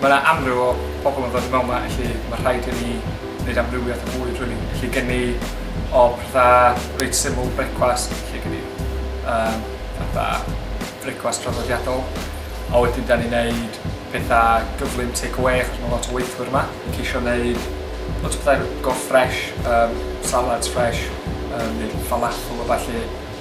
Mae yna amryw o bobl yn dod i mewn yma felly mae rhaid i ni wneud amrywiaeth o fwyd rili. Felly gen ni o pethau reit syml, brecwast, lle gen ni um, fatha brecwast traddodiadol a wedyn da ni'n neud pethau gyflym take away achos mae lot o weithwyr yma yn ceisio neud lot o pethau go fresh, um, salads fresh, um, neu falafel o falle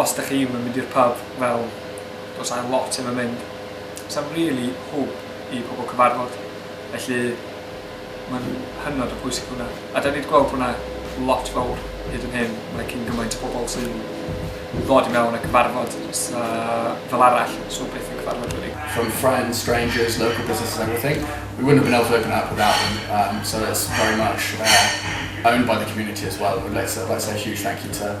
Os dych chi'm yn mynd i'r pub, wel, does ail lot am y mynd. Does am rili hwb i pobl cyfarfod, felly mae'n hynod o bwysig hwnna. A dan ni wedi gweld hwnna lot fawr hyd yn hyn, mae cyn gymaint o bobl sy'n ddod i mewn a cyfarfod sa fel arall so byth yn cyfarfod rili. From friends, strangers, local businesses everything. We wouldn't have been able to open up without them um so it's very much uh owned by the community as well. We'd like to like to say a huge thank you to